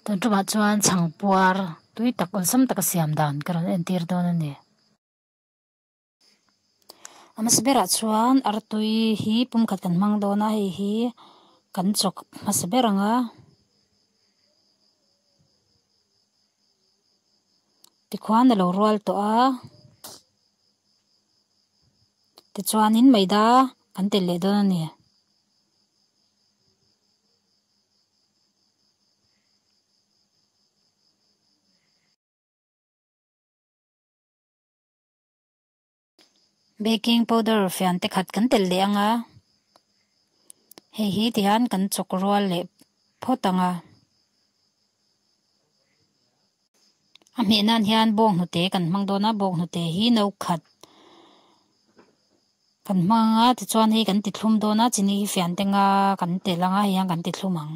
Tun tumah chuan chhang puar tui tak awlsam taka siam dan ka rawn entir dawn a ni. a hmasa berah chuan artui hi pum khat kan hmang dawn a hei hi kan chawk hmasa ber ang a tikhuan a lo rual tawh a tichuanin maida kan tel leh dawn a ni. Baking powder fian te khat kan tel leh ang a, hei hi ti hian kan chawk rual leh phawt ang a. A hmeh nan hian bawng hnute kan hmang dawn a, bawng hnute hi no khat kan hmang a tichuan hei kan ti thlum dawn a, chini hi fian te nga kan tel ang a, hei hian kan ti thlum ang.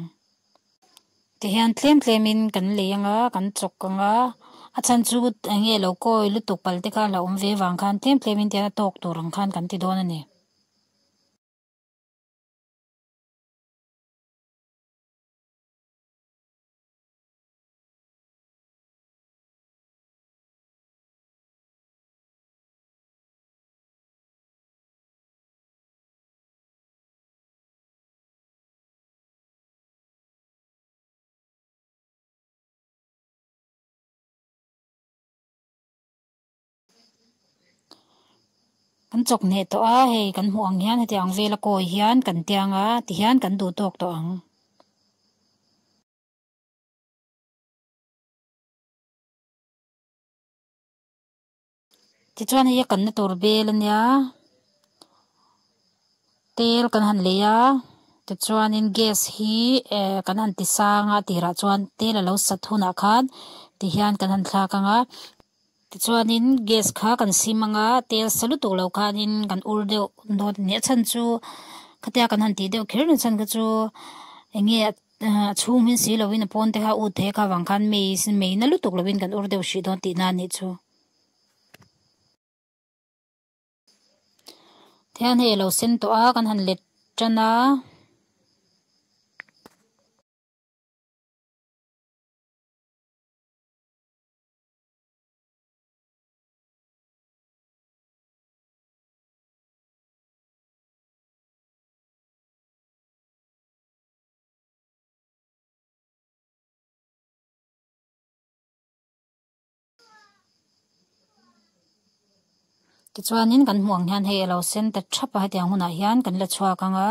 Tihian tlem tlem in kan lei ang a, kan chawk ang a, a chhan chu eng nge lo kawi lutuk pal te khan a awm ve vang khan tlem tlem in tihian a tawk tur ang khan kan ti dawn a ni. Kan chawk hneh tawh a, hei kan hmuh ang hian heti ang vela kawi hian kan tiang a ti hian kan duh tawk tawh ang. Tichuan hei a kanna tur bel a nia tel kan han lei a tichuanin gas hi ehh kan han ti sang a tirah chuan tel a lo sat hunah khan ti hian kan han thlak ang a tichuanin gas kha kan sim ang a tel sa lutu lo khanin kan ur deuh dâwn ni a chhan chu khatia kan han tih deuh kher ni chhan kha chu eng nge-- A chhung hmin si loin a pawn te kha ut theih a, kha vang khan mei sin mei na lutuk lovin kan ur deuh hrih dawn tih na anih chu. Thian hi elo sen tawh a, kan han let tan a. Tichuanin kan hmuh ang hian hei alo sen ta thap a hetiang hunah hian kan la chhuak ang a.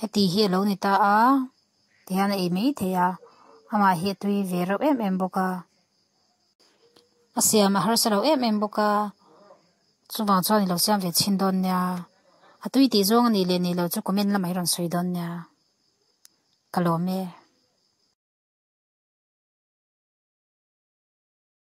Heti hi a lo ni ta a, ti hian a ei mai thei a, amah hi a tui ve reuh em em bawk a, a siam a harsa lo em em bawk a, chuvang chuan i lo siam ve chhin dawn nia, a tui tih zawng a nih leh nih loh chu comment lamah i rawn sawi dawn nia, ka lawm e.